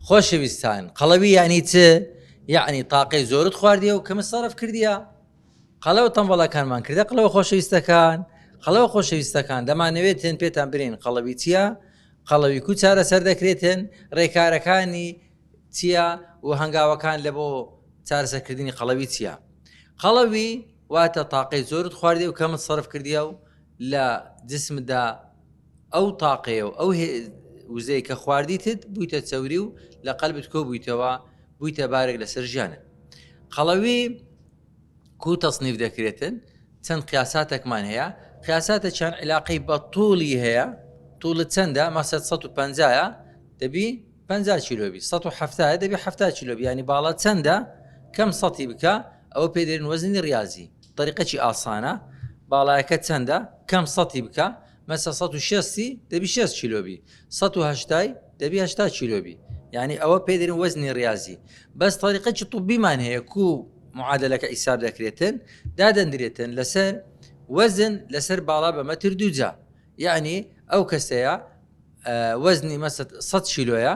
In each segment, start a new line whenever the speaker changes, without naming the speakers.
خۆشەویستان قەڵەوی یانی چ یعنی تاقەی زۆرت خواردیە و کەمە سەرف کردیە قەڵەوە تەمبەڵەکانمان کردە قڵەوە خۆشەویستەکان قەڵەوە خۆشەویستەکان دەمانەوێت تێن پێتان برین قەڵەوی چییە قەڵەوی کو چارە سەر دەکرێتن ڕێکارەکانی چییە و هەنگاوەکان لە بۆ چارەسەکردنی قەڵەوی چییە قەڵەوی واتە تاقەی زۆرت خواردی و کەمت سەرف کردیە و لە جسمدا ئەو تاقەیە و ئەو وزەی کە خواردیتت بوویتە چەوری و لە قەلبت کۆ بوویتەوە بوویتە بارێک لەسەر ژیانت قەڵەوی کو تەصنیف دەکرێتن چەند قیاساتێکمان هەیە قیاساتە چەند علاقەی بە توڵی هەیە توڵت چەندە مەسە 150ە دەبی 50 کیلوبی 1970 دەبی 70 کیلوبی ینی باڵە چەندە کەم سەتی بکە ئەوە پێدرن وەزنی ڕاضی طەریقەکی ئاسانە باڵایەکەت چەندە کەم سەتی بکە مەسە سەد و شەستی دەبی شەست کیلۆ بی سەد و هەشتای دەبی هەشتا کیلۆ بی یعنی ئەوە پێ دەرین وەزنی ڕاضی بەس طەریقەکی طبیمان هەیە کو معادلەکە ئیساب دەکرێتن دادەندرێتن لەسەر وەزن لەسەر باڵا بە مەتر دووجا یعنی ئەو کەسەیە وەزنی مەسە سەد کیلۆیە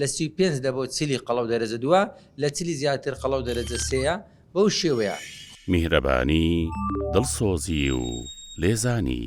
لە سی و پێنج دە بۆ چلی قەڵەو دەرەجە دووە، لە چلی زیاتر قەڵەو دەرەجە سێیە، بەو شێوەیە. میهرەبانی،
دڵسۆزی و لێزانی.